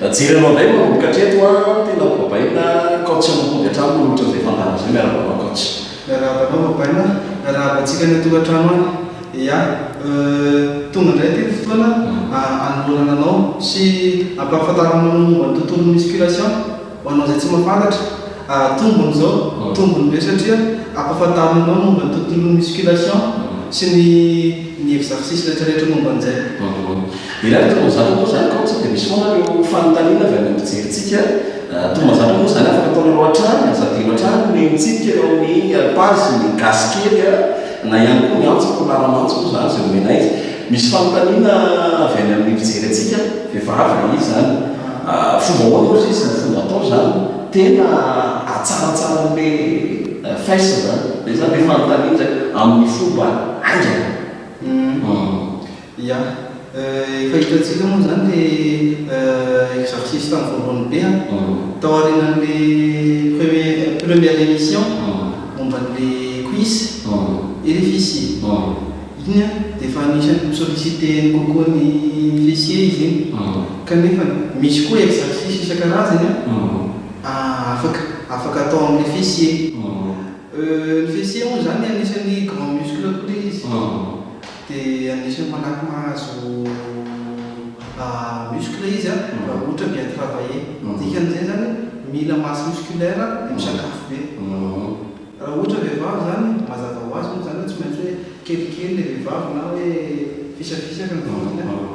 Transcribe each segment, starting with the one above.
Mijery anao indray manomboka hatreto an, tena babaina coach anao mody hatrany mihoatra izay fandàna izay, miarahaba anao coach. Miarahaba anao babaina an, miarahaba antsika ny tokantrano any, ya euh tonga indray ity ny fotoana hanolorana anao sy hampahafantarana anao momba ny tontolon'ny musculation ho anao izay tsy mahafantatra ah tombony izao, tombony be satria hampahafantarina anao momba ny tontolon'ny musculation sy ny ny exercice rehetra rehetra momba an'izay. Irery toa mazava moa izany kaonty sao dia misy foana ireo fanontaniana avy amin'ireo mpijerintsika. Toa mazava moa izany afaka ataonareo hatrany, aza adino hatrany ny mihaino antsika eo amin'ny page ny gasy kely na ihany koa ny antso na laramantso moa izany izay omenay. Misy fanontaniana avy any amin'ny mpijery antsika vehivavy dia izy izany fomba ahoana ozy izy ny fomba atao izany tena hatsaratsaran'le face izany. Izay izany ilay fanontaniana izay amin'ny fomba haingana. Ya. Efa hitantsika moa izany ilay exorciste tamin'ny voalohany be an. Tao aorianan'ilay premier première émission momba an'ilay quiz rfi sy iny an dia efa anisan'ny mi-solliciter-ny kokoa ny fessier izy iny. Kanefa misy koa exercice isan-karazany an afaka afaka atao amin'ilay fessier. Ny fessier moa izany anisan'ny grand muscle koa ilay izy. Dia anisan'ny malaky mahazo muscle izy raha ohatra bien travailler. Ny dikan'izay izany mila masse musculaire dia misakafo be. Raha ohatra vehivavy izany, mazava ho azy moa izany hoe tsy maintsy hoe kelikely ilay vehivavy na hoe fisapisaka ny vatany.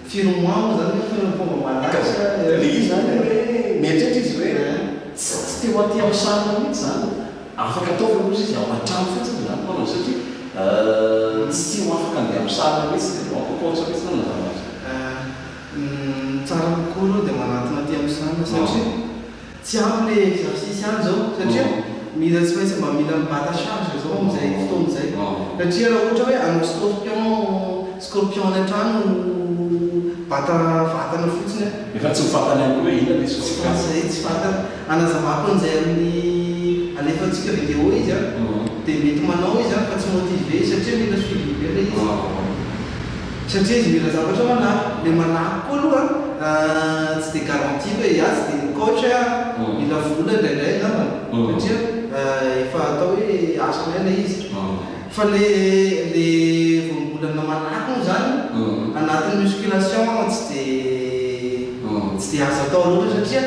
Firy mois moa zany firy ny fomba malaza le izy zany hoe mieritreritra izy hoe za tsy te ho aty am sarona mihitsy zany afaka atao ve ozy izy ao antrano fotsiny zany no fanaovana satria tsy tsy ho afaka andeha am sarona mihitsy de aoka porte mihitsy no anavahana azy. Ny tsara kokoa aloha dia manatona aty am sarona satria Tsy ampy le exercice any zao satria mila tsy maintsy mba mila mibata charge zao amzay fotoana zay satria ra ohatra hoe hanao scorpion scorpion any antrano bata vatana fotsiny an. Efa tsy mifatana ihany koa hoe inona le scorpion. Tsy zay tsy fatana anazavako anzay aminy alefantsika video izy an de mety manao izy an fa tsy motiver izy satria mila suivi be le izy. Satria izy mila zavatra manahy, ilay manahy koa aloha an, tsy dia garantie fa hiatsy dia ny coach mila vola indraindray angambany satria efa atao hoe asa indray ilay izy. Fa ilay voambolana manahy moa izany anatin'ny musculation tsy dia azo atao loatra satria.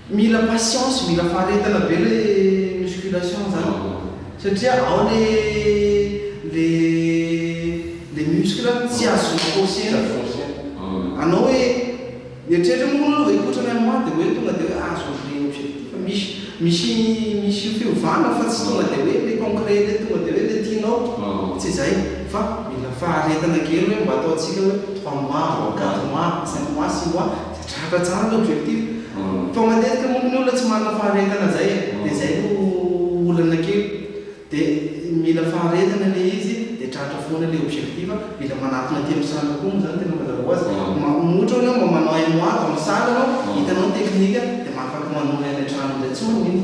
Mila patience, mila faharetana be le musculation zany satria ao le le le muscle tsy azo forcer-na, anao hoe mieritreritra moa aloha hikotra ny amah de hoe tonga de hoe azon'ny le objectif, misy misy misy fiovana fa tsy tonga de hoe le concret le tonga de hoe le tianao, tsy zay fa mila faharetana kely hoe mba ataontsika hoe trois mois, quatre mois, cinq mois, six mois. Tratra tsara ny objectif fa matetika monko ny olona tsy manana faharetana zay e de zay no olana kely de mila faharetana le izy de tratra foana le objectif mila manatona aty am salle koa moa zany tena mazava ho azy ma ohatra oe enao mba manao un mois dans salle anao hitanao ny technique de mahafaky manohy any antrano ndray tsy manino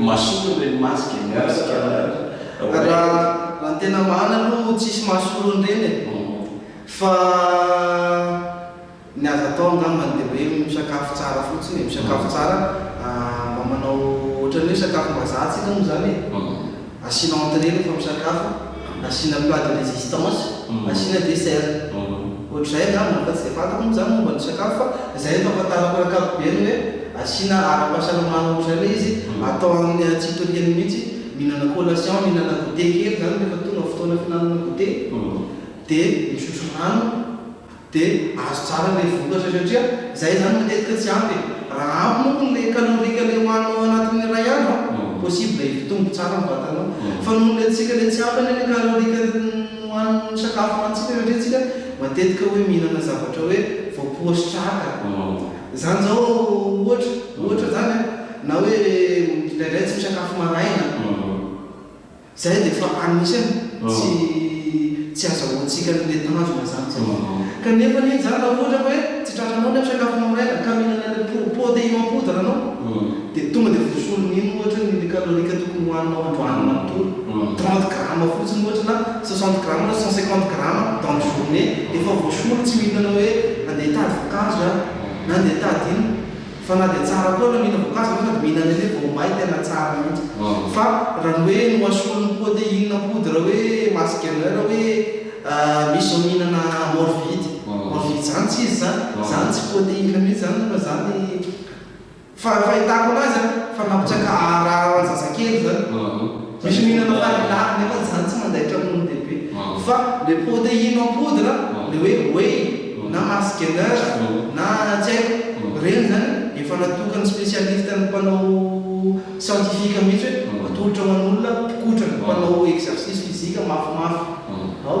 Mason ny reny mask e, merci Caroline. Raha ny tena marina aloha tsisy mahasolo an'ireny e. Fa ny azo atao angambany dia hoe misakafo tsara fotsiny e, misakafo tsara mba manao ohatran'ny hoe sakafom-bazaha tsika moa izany e. Asiana entrée rehefa misakafo, asiana plat de résistance, asiana dessert. Ohatr'izay angamba no fa tsy dia fantako moa zany momba ny sakafo fa izay no fahafantarako eo ankapobeny hoe asiana ara-pahasalamana ohatr'izay ilay izy, atao amin'ny antsipirihany mihitsy, mihinana collation, mihinana goûter kely zany rehefa tonga fotoana fihinanana goûter, dia misotro rano. Dia azo tsara ilay vokatra satria izahay izany matetika tsy ampy e! Raha ampy moa ilay calorique ilay hohaninao anatin'ny iray andro an, possible hitombo tsara ny vatanao. Fa noho ilay antsika ilay tsy ampy anie ilay calorique hohanin'ny sakafo hohanintsika satria isika matetika hoe mihinana zavatra hoe voapoa sy traka. Izany izao ohatra, ohatra izany an, na hoe indraindray tsy misakafo maraina. Izay dia efa anisany tsy tsy azahoantsika ny le tanjona izany satria kanefa anie izany raha ohatra ka hoe tsy tratranao ilay fisakafoanao maraina ka mihinana ilay pro protéine en poudre anao dia tonga dia voasoriny iny ohatra ny le calorique tokony hohaninao androany manontolo trente grammes fotsiny ohatra na soixante grammes na cent cinquante grammes dans journée dia efa voasoriny tsy mihinana hoe andeha hitady voankazo aho na andeha hitady ino Fa na dia tsara koa na mila voankazo ianao sady mihinana an'ilay vao may tena tsara mihitsy. Fa raha ny hoe nohasoany ny poa dia inona poudre hoe masse gainer hoe misy izao mihinana morvide morvide izany tsy izy izany izany tsy poa te inona mihitsy izany fa izany fa ny fahitako anazy an fa nampitraka aharara ho an'ny zazakely izany. Misy mihinana marilary nefa izany tsy mandaitra hono dia be. Fa le proteine en poudre, le hoe whey na mars gainer na tsy haiko, ireny izany efa natokan'ny spécialiste ny mpanao scientifique mihitsy hoe atolotra ho an'olona mpikotra, mpanao exercice physique mafimafy. Ao.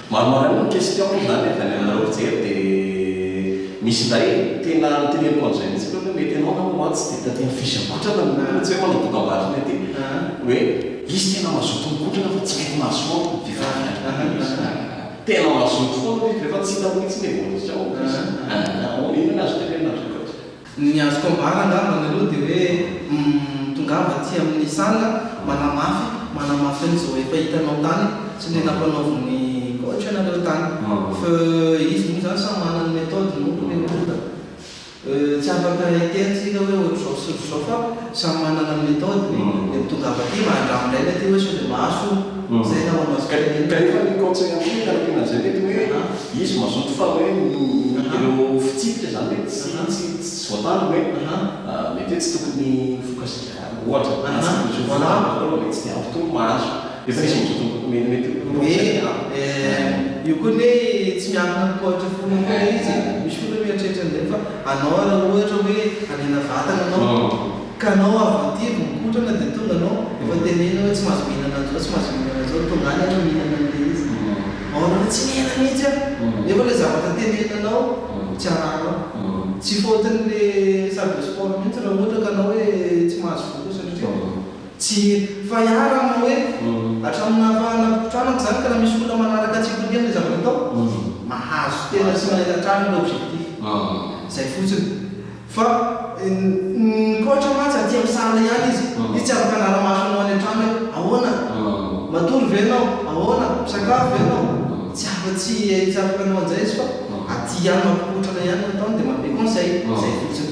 Maromaro ihany ny question izany avy any aminareo fijery dia misy indray tena noteneniko amin'izay mihitsy aloha hoe mety ianao angamba mantsy dia taty amin'ny fiche mipetraka no mety hoe manao dokam-barotra ety hoe izy tena mazoto mikotrana fa tsy mety mahazo faompy ny vehivavy ihany tena mazoto foana izy rehefa tsy hitako mihitsy ny evolution-ny, inona no azo tenenina an-dry zareo? Ny azoko ambara angamba nareo dia hoe humm tongava aty amin'ny salle manamafy manamafy an'izao efa hitanao tany sy le nampanaovin'ny coach anareo tany fa izy moa zany samy manana ny méthode-ny moa le olona euh tsy afaka hiteny tsika hoe ohatr'izao sy ohatr'izao fa Samy manana ny méthode ny le mitondra avy aty mba andramo indray ny aty hoe sao dia mahazo izay na ho mahazo kely ihany. Kanefa ny conseil ampio ny ankiana izay mety hoe izy mazoto fa hoe ny ireo fitsipika izany hoe tsy tsy tsy voatandrina hoe mety hoe tsy tokony ho fokasika ohatra na tsy tokony ho fokasika ohatra mety tsy dia ampy toa ny mahazo. Efa misy mijotso mety mety ho roa hetsy e. Eh, io koa anie tsy miankina amin'ny poids-n'ny fony koa ilay izy e. Misy fony hoe mieritreritra an'izay fa anao raha ohatra hoe hanena vatana ianao ka anao avy aty vao mikotrana dia tonga anao efa tenenina hoe tsy mahazo mihinana an'izao, tsy mahazo mihinana an'izao, tonga any ianao mihinana an'ilay izy. Ao anao hoe tsy nihena mihitsy aho nefa ilay zavatra teneninanao tsy arahanao. Tsy faute-n'ilay salle de sport mihitsy raha ohatra ka anao hoe tsy mahazo voky satria Tsy fa iharan'ny manao hoe, hatramin'ny nahafahana mipoitra manko izany ka na misy olona manaraka antsika ho liana ilay zavatra atao, mahazo tena tsy mahita hatrany ilay objectif. Izay fotsiny. Fa ny coach mantsy aty amin'ny salle ihany izy, izy tsy afaka hanara-maso anao any an-trano hoe, ahoana? Matory ve ianao? Ahoana? Misakafo ve ianao? Tsy afa, tsy afaka hanao an'izay izy fa aty ihany mampipoitra anao ihany no ataony dia manome conseil. Izay fotsiny.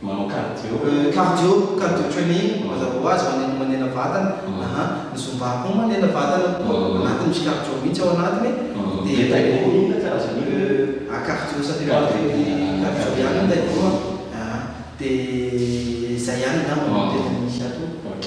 Manao cardio. Cardio, cardio training, mazava ho azy, maneno manena vatana, aha, ny zumba koa manena vatana koa, ao anatiny misy cardio mihitsy ao anatiny, dia taekwondo inona karazana inona? Ah, cardio ça fait partie du cardio ihany ny taekwondo an, aha, dia izay ihany angamba no tena misy ato. Ok.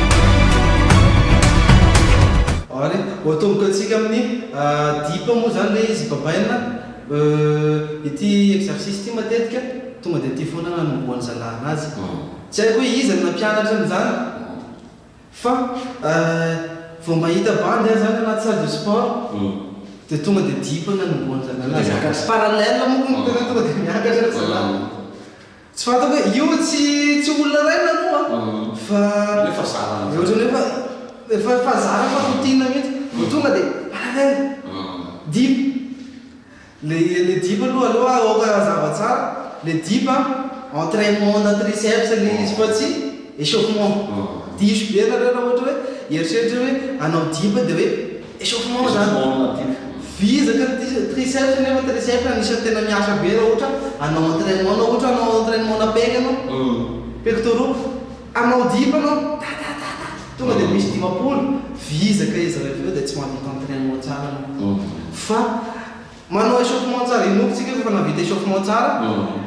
Ary ho atomboka antsika amin'ny dip moa izany ilay izy babaina. Ity exercice ity matetika tonga dia ity foana nanombohan'ny zalahy azy. Tsy haiko hoe iza no nampianatra an'izany fa vao mahita bandy aza any anaty salle de sport dia tonga dia dip no nanombohan'ny zalahy azy. Parallel moa tonga dia miakatra ry zalahy. Tsy fantako hoe io tsy tsy olona iray ny anao an! Fa Io efa zara ny Ohatrany hoe efa efa efa zara fa routine mihitsy. Vao tonga dia alalaina! Deep! Ilay ilay deep aloha aleo aoka hazava tsara, ilay deep an, entrainement na triceps ilay izy fa tsy echauffement. Diso be nareo raha ohatra hoe hieritreritra hoe hanao deep dia hoe. Echauffement zany vizaka ny tri triceps nefa ny triceps anisany tena miasa be raha ohatra hanao entrainement na ohatra hanao entrainement na pec anao pectoraux hanao dip anao tatatata tonga dia misy dimampolo vizaka izy raha avy eo dia tsy mahavita entrainement tsara anao fa Manao échauffement tsara, inoako tsika rehefa navita échauffement tsara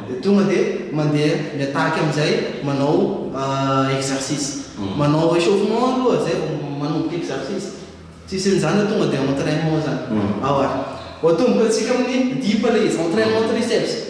dia tonga dia mandeha mi-attaque amin'izay manao exercice. Manao échauffement aloha izay vao manomboka exercice. Tsisy an'izany hoe tonga dia entrainement izany. Aowa. Ho atomboka antsika amin'ny dip ilay izy, entrainement triceps.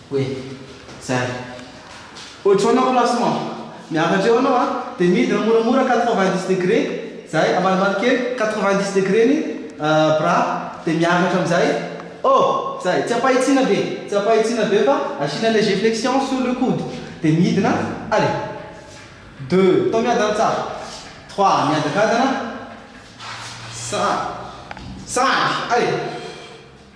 Hoe zay. Hojoana au classement. Miakatra eo anao a, dia midina moramora quatre-vingt-dix degre, zay, ambanimbany kely, quatre-vingt-dix degre ny bras, dia miakatra amin'izay, oh! zay, tsy ampahitsiana be, tsy ampahitsiana be fa asiana léger flexion sur le coude, dia midina, allez, deux, atao miadana tsara, trois, miadakadana, cinq, cinq, allez.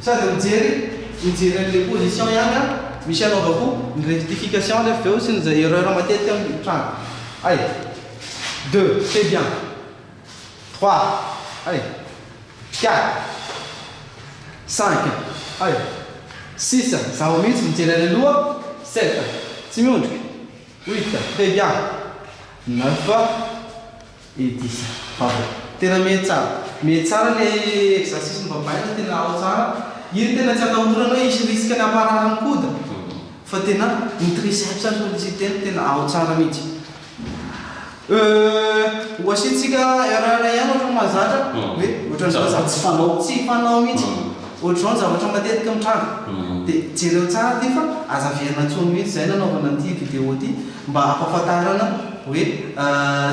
Sady mijery mijery an'ilay position ihany an! Misy anaovako ny rectification nefo avy eo sy ny izay erreur matetika mitranga. Hay! Deux, c'est bien! Trois, hay! Quatre, cinq, hay! Six, zaho mihitsy mijery any aloha! Sept, tsy miondrika! Huit, très bien! Neuf, Edisa, Vava, tena mihaino tsara. Mihaino tsara ilay exercice novavaina, tena ao tsara. Iny tena tsy atahorana hoe hisy risque-ny hamparary ny coude fa tena ny triceps ary ny citer tena ao tsara mihitsy. Euh, ho asiantsika erreur ihany ohatran'ny mahazatra hoe ohatran'ny zavatra tsy fanao, tsy fanao mihitsy. Ohatr'izao ny zavatra matetika mitranga. Dia jereo tsara ity fa aza averina intsony mihitsy izay nanaovana an'ity vidéo ity mba hampahafantarana. Hoe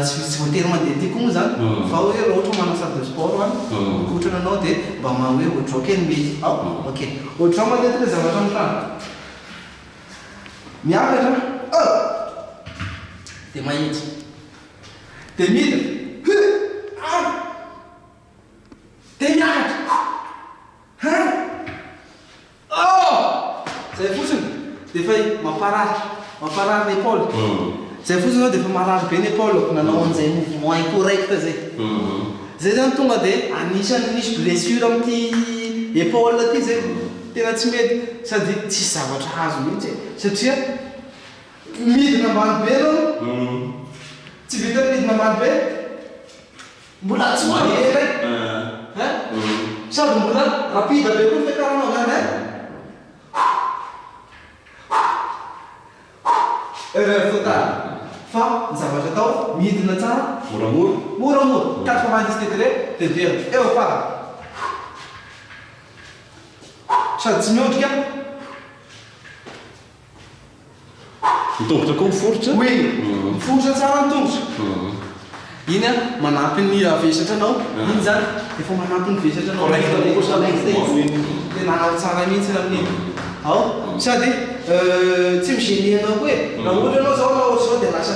tsy tsy voatery mandeha aty koa moa zany fa hoe raha ohatra hoe manao salle de sport any mikotrana anao dia mba ma hoe withdraw kely ny mety ao ok withdraw matetika ny zavatra mitranga miakatra oh dia mahitsy dia midina huh ah dia miakatra huh huh Oh! Zay fotsiny dia efa mamparary, mamparary ny epaoly. Zay fotsiny izao dia efa marary be ny epaolako nanao an'izay mouvement incorrect izay. Zay zany tonga dia anisan'ny nisy blessure amin'ity epaoly ity zay. Tena tsy mety sady tsisy zavatra azo mihitsy e. Satria midina ambany be aloha, tsy vitan'ny midina ambany be. Mbola tsy madio ilay eh. Sady mbola rapide be koa ny fiakaranao zany eh. Erreur totale. Fa ny zavatra atao, midina tsara moramora, moramora, quatre-vingt-dix degrés dia miverina. Eo farany. Sady tsy miondrika. Ny tongotra koa miforitra? Oui, miforitra tsara ny tongotra. Iny an, manampy ny vesatra anao. Iny zany efa manampy ny vesatra anao. Correct anao koa zany ny fomba feno. Tena tsara mihitsy amin'iny. Ao, sady tsy mi-gener anao koa e. Raha ohatra ianao zao hanao ohatr'izao dia lasa.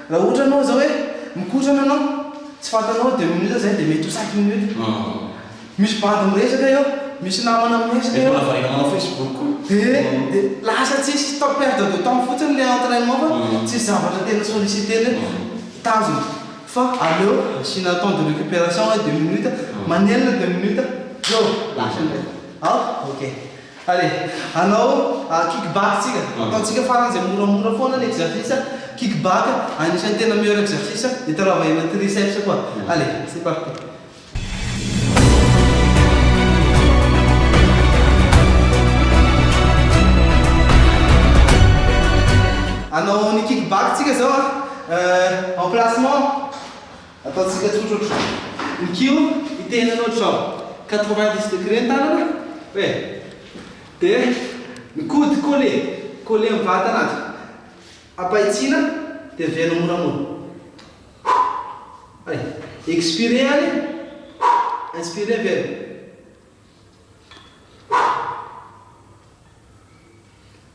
Raha ohatra ianao izao hoe mikotrana ianao, tsy fantanao deux minutes izay dia mety ho cinq minutes. Misy bandy miresaka eo, misy namana miresaka eo. Dia mbola variana manao Facebook koa. Dia dia lasa tsisy fa perte de temps fotsiny ilay entrainement fa tsisy zavatra tena solliciter hoe tanjona. Fa aleo asiana temps de récupération hoe deux minutes, manelina deux minutes, zao, lasa indray. Aoka? Ok. Allez, hanao kick back tsika. Ataontsika farany zay moramora foana ny exercice kick back, anisan'ny tena meilleur exercice itaravahena triceps koa. Allez, c'est parti. Hanao ny kick back tsika zao a, emplacement. Ataontsika tsotra otrany ny kiho hiteny anao izao, quatre-vingt-dix degré ny tanana e, dia ny coude coller, coller amin'ny vatana azy, ampahitsiana dia very moramora. Hay, expirer ary inspirer very.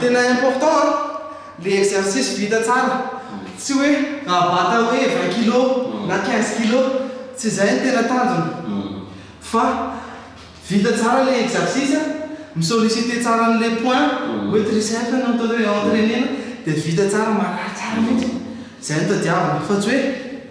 Tena important an, le exercice vita tsara, tsy hoe raha bata hoe vingt kilo na quinze kilo, tsy zay ny tena tanjona fa vita tsara le exercice, mi solliciter tsara anle point hoe triceps no entrainer-na dia vita tsara, marary tsara mintsy, zay no tadiavina fa tsy hoe.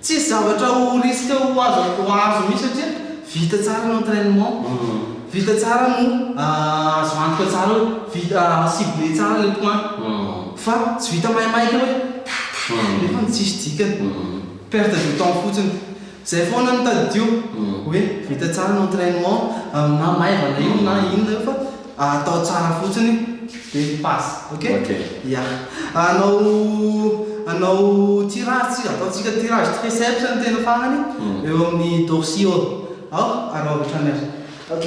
Tsisy zavatra ho risque ho azo atao azo mihitsy satria vita tsara ny entrainement, vita tsara no azo antoka tsara hoe vita cibler tsara le point fa tsy vita maimaika hoe ta ta nefany tsisy dikany, perte de temps fotsiny. Zay foana no tadidio hoe vita tsara ny entrainement na maivana io na inona io fa. Atao tsara fotsiny dia ny passe. Ok? Ok. Ya. Hanao hanao tirage tsika, ataontsika tirage triceps ny tena farany, eo amin'ny dorsio. Aoka hanao avy hatrany ary. Ok.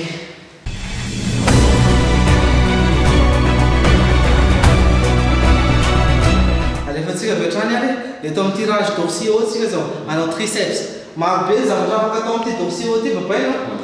Alefantsika avy hatrany ary. Eto amin'ny tirage dorsio tsika izao. Hanao triceps. Marobe ny zavatra afaka atao amin'ity dorsio ity, vapaina an.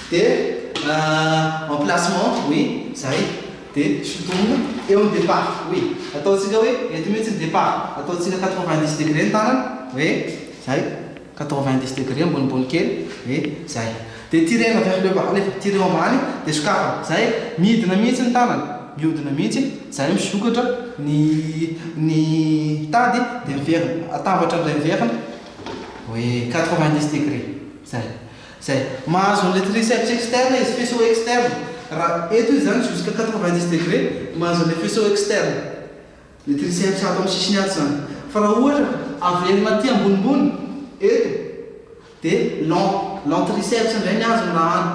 De en placement oui zay de sotomina eo ny depart oui ataontsika hoe eto mihitsy ny depart ataontsika quatre vingt dix degre ny tanana oui zay quatre vingt dix degre ambonimbony kely oui zay de tirena vers le bas alefa tirer ambany de sokafana zay midina mihitsy ny tanana miodina mihitsy zay misokatra ny ny tady de miverina atambatra indray miverina oui quatre vingt dix degre zay Zay. Mahazo an'ilay triceps externe izy, faisceau externe. Raha eto izy zany jusqu'à quatre-vingt-dix degrés, mahazo an'ilay faisceau externe. Ny triceps ato amin'ny sisiny ato zany. Fa raha ohatra averina aty ambonimbony, eto, dia long, long triceps indray ny azony raha any,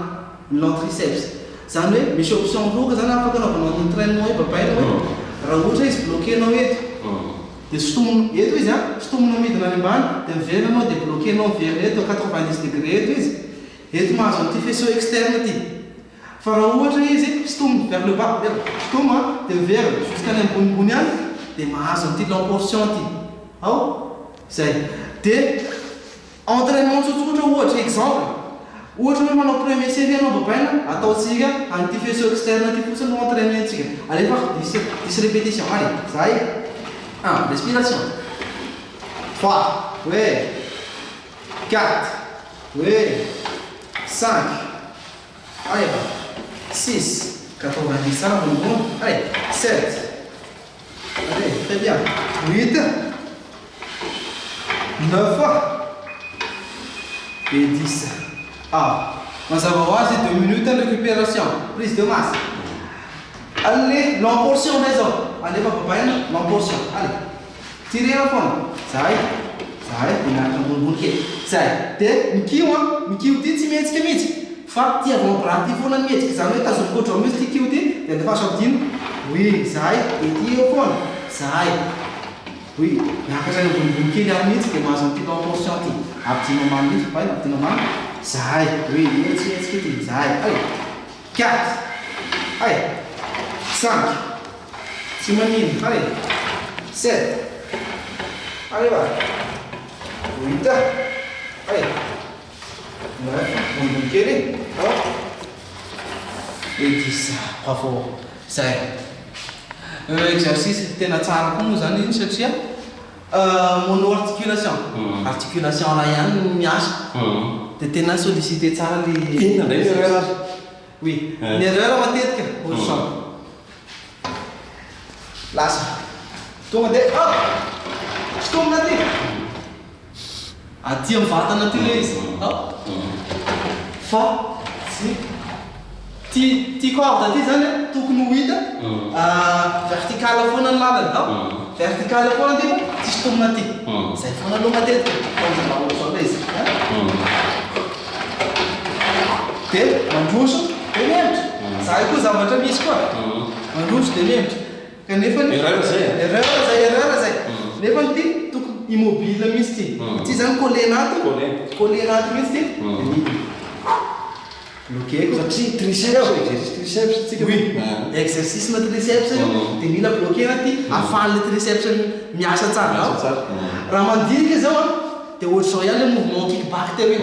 ny long triceps. Zany hoe misy option roa ka zany afaka anaovanao entrainement hoe babainao hoe raha ohatra hoe izy bloquer-nao eto. Dia sintomina eto izy an! Sintomina midina any ambany, dia miverina anao dia bloquer-nao miverina eto à quatre-vingt-dix degrés eto izy. Eto mahazo an'ity faisceau externe ity. Fa raha ohatra izy sintomina vers le bas, eto, sintomy an, dia miverina jusqu'any ambonimbony any, dia mahazo an'ity lamportion ity. Ao? Izay. Dia. Entrainement tsotsotra ohatra, exemple, ohatra hoe manao premier série ianao dopaina, ataontsika an'ity faisceau externe ity fotsiny no entrainentsika, alefako dix dix répétition allez, zahay, un, respiration, trois, hoe, quatre, hoe, cinq, aia, six, quatre vingt dix tsara ambonimbony, aia, sept, Allez, très bien. 8, 9 et 10. Ah, mazava ho azy 2 minutes de récupération, prise de masse. Allez, long portion ndray zao. Allez, fa babaina, long portion. Allez. Tirena foana. Zay. Zay, dia miaraka ambonimbony kely. Zay. Dia mikiho an, mikiho ity tsy mihetsika mihitsy. Fa ty avy mampiranty ty foana ny hetsika izany hoe tazomiko ho drôme izy tiky io ty dia andefaso adino oui zahay dia ty eo foana zahay oui miakatra any ambonimbony kely any mihitsy dia mahazo an'ity long portion ty abdino ambany mihitsy baina abdino ambany zahay oui io tsy hetsika ity zahay ay quatre ay cinq tsy manino ay sept ay ewa huit ay Ambony kely e. Ity bravo zay. Exercice tena tsara koa moa zany iny satria monoarticulation, articulation iray ihany no miasa dia tena sollicité tsara le. Inona indray ny erreur ary? Oui, ny erreur matetika ohatry zao. Lasa. Tonga dia hop! Sintomina aty. Aty am vatana aty le izy an! Fa tsy Ty ty corde ty zany an tokony ho hita vertical foana ny lalany an! Vertical foana ty fa tsisy tombony aty! Zay foana aloha matetika tanjona raha ohatra zao le izy an! De mandroso de mihemotro! Zany koa zavatra misy koa! Mandroso de mihemotro! Kanefa ny. Erreur zay e. Erreur zay, erreur zay. Nefa ny ty tokony immobile mintsy ty. Ity zany coller anaty. Coller. Coller anaty mintsy ty. Bloquer ko. Satria triceps e, exercice triceps tsika. Oui, exercice na triceps io dia mila bloquer anaty ahafahan'ilay triceps miasa tsara. Miasa tsara. Raha mandinika zao an, dia ohatr'izao ihany ilay mouvement kick back teo iny.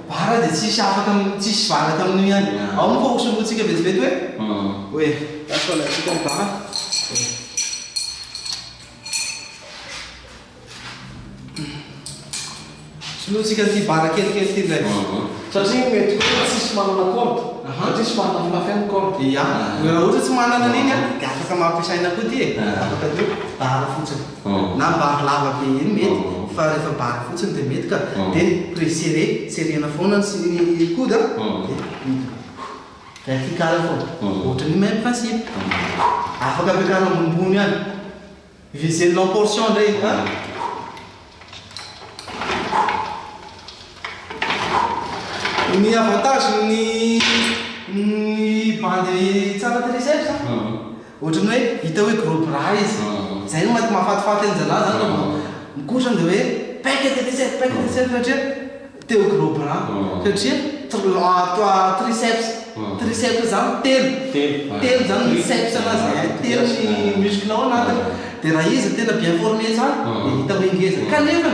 Vara dia tsy hisy afaka am, tsy hisy vara tamin'io ihany. Ao moa fa ho solointsika vetivety hoe? Hoe, lasa ho alaintsika ny vara. Solointsika an'ity vara kelikely ity indray. Satria mety hoe tsy hisy manana corde. Satria tsy mahatafitafy any ny corde. Ia. Raha ohatra tsy manana an'iny an, dia afaka ampiasaina koa ity e. Afaka atao hoe vara fotsiny. na bar lava be eny mety fa rehefa bar fotsiny dia mety ka dia prix serré serrena foana ny sy ny coude a dia midina vertical foana ohatry ny même principe afaka ampiakarina ambonimbony any viser-na en portion indray a. Ny avantage ny ny bandy tsara tery izay ry zalahy ohatran'ny hoe hita hoe gros bras izy zay no maha mahafatifaty an'ny zalahy zany raha vao mikotra dia hoe paika tery izay paika tery izay satria te ho gros bras satria tr- triceps triceps zany telo telo zany ny ceps anazy e telo ny muscle ao anatiny dia raha izy tena bien forme tsara dia hita hoe ngeza kanefa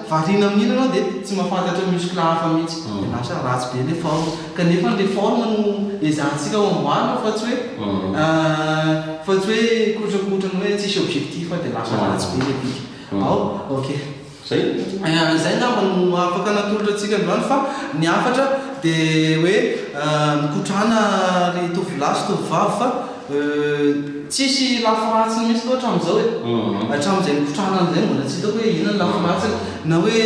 Variana amin'ny inona ianao dia tsy mahafantatra muscle hafa mihitsy. Dia lasa ratsy be ilay forme. Kanefa ilay forme no ezahantsika amboarina fa tsy hoe fa tsy hoe kotrakotrana hoe tsisy objectif dia lasa ratsy be ilay bika. Ao, ok. Zay? Zay angamba no afaka natolotra antsika androany fa ny hafatra dia hoe mikotrana ry tovolahy sy tovovavy fa. Euh, tsisy lafy ratsiny mihitsy loatra amin'izao e. Hatramin'izay nikotrahana an'izay mbola tsy hitako hoe inona ny lafy ratsiny. Na hoe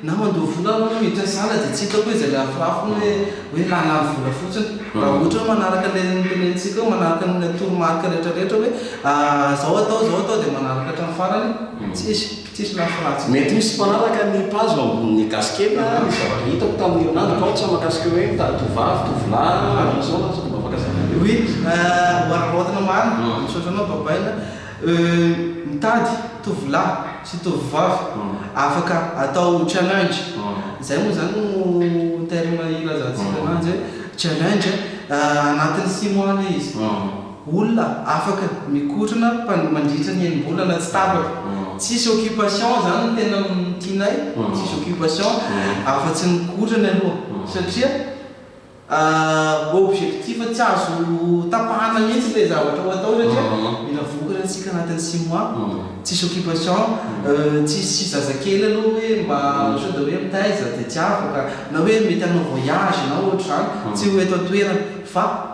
na mandoa vola aho na miditra salle dia tsy hitako hoe izay lafirafiny hoe hoe hahalany vola fotsiny. Raha ohatra hoe manaraka ilay notenenintsika hoe manaraka an'ilay toromarika rehetrarehetra hoe ah, izao atao, izao atao dia manaraka hatramin'ny farany, tsisy. Tsisy lafy ratsy. Mety misy mpanaraka ny page ao ambonin'ny gasiketa ny zavatra hitako tamin'ny herinandro aotra mahakasika hoe mitady tovovavy, tovolahy, aza misaona aza mba afaka zaka anareo. Oui, wararaotina marina, misaotra anao Babaina. Mitady tovolahy sy tovovavy afaka atao challenge, zay moa zany no terme ilazantsika ananjy hoe challenge, anatin'ny six mois le izy. Olona afaka mikorona pan mandritra ny enim-bolana tsy tapaka. Tsisy occupation zany no tena tianay, tsisy occupation afa tsy ny kotrany aloha satria objectif tsy azo tapahana mihitsy le zavatra ho atao satria mila vokatra antsika anatin'ny six mois, tsisy occupation, tsisy zazakely aloha hoe mba sao dia hoe mitaiza dia tsy afaka, na hoe mety hanao voyage na ohatr'izany, tsy ho eto an-toerana fa.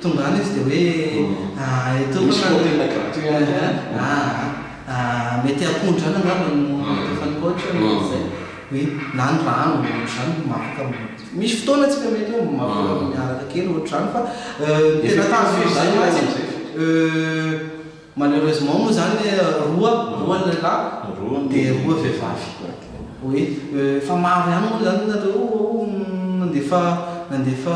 Tonga any izy dia hoe, ah, eh, tompoko a. Misy hôtel gratuit any an. Ah, ah, mety apondrana angamba no mety efa nihoatra an, izay. Oui, na ny rano, ohatr'izany, no mafaka. Misy fotoana tsika mety hoe mafaka miaraka kely, ohatr'izany, fa, eh, tena tazon'izay mantsy, eh. Malheureusement moa zany roa roa ny lehilahy de roa vehivavy oui fa maro ihany moa zany nareo ao nandefa nandefa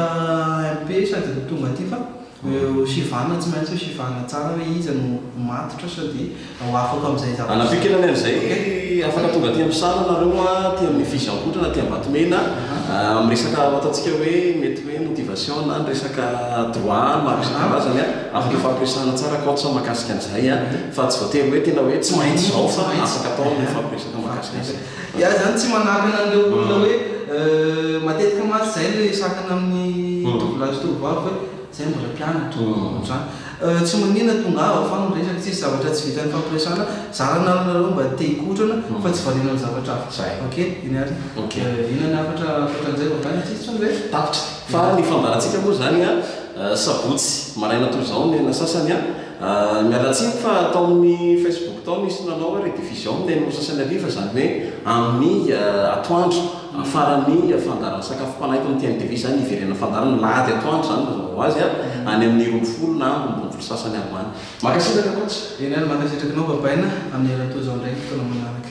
MP sady ho tonga aty fa eo sivana tsy maintsy sivana tsara hoe iza no ho matotra sao de ho afaka amizay za Anavio kely anie amizay afaka tonga aty Ampisara nareo a aty aminy Fihizoambohitra na aty Ambatomena amin'ny resaka ataontsika hoe mety hoe motivation na ny resaka droit maro isan-karazany a. Afaka fampiresahana tsara kaontsa mahakasika an'izay a! Fa tsy voatery hoe tena hoe tsy maintsy izao fa afaka atao ny mifampiresaka mahakasika an'izay. Iah izany tsy manakana an'ireo olona hoe matetika mantsy izay no resahana amin'ny tovolahy sy tovovavy hoe izay mbola mpianatra ohatr'izany. Tsy manina tongava fa miresaka tsisy zavatra tsy vitan'ny fampiresahana. Zarana aminareo mba te hikotrana fa tsy variana amin'ny zavatra hafa. Zay. Ok iny ary. Ok. Inona ny hafatra ankoatran'izay vao avy any an-tsisintry ny resaka? Tapitra. Fa ny fambarantsika moa izany a! Sabotsy maraina toy izao ny aina sasany an! Miala tsiny fa tao amin'ny Facebook tao nisy nanao hoe rediffusion amin'ny enina sasany hariva, izany hoe amin'ny atoandro, faran'ny fandaran-tsakafom-panahy eto amin'ny TMTV izany, hiverenan'ny fandaharana, alahady atoandro izany mazava ho azy an! any amin'ny roa ambin'ny folo na amin'ny roa ambin'ny folo sasany ambany. Mankasitraka coach! Enah, mankasitraka anao Babaina amin'ny herintaona izao indray ny fotoana manaraka.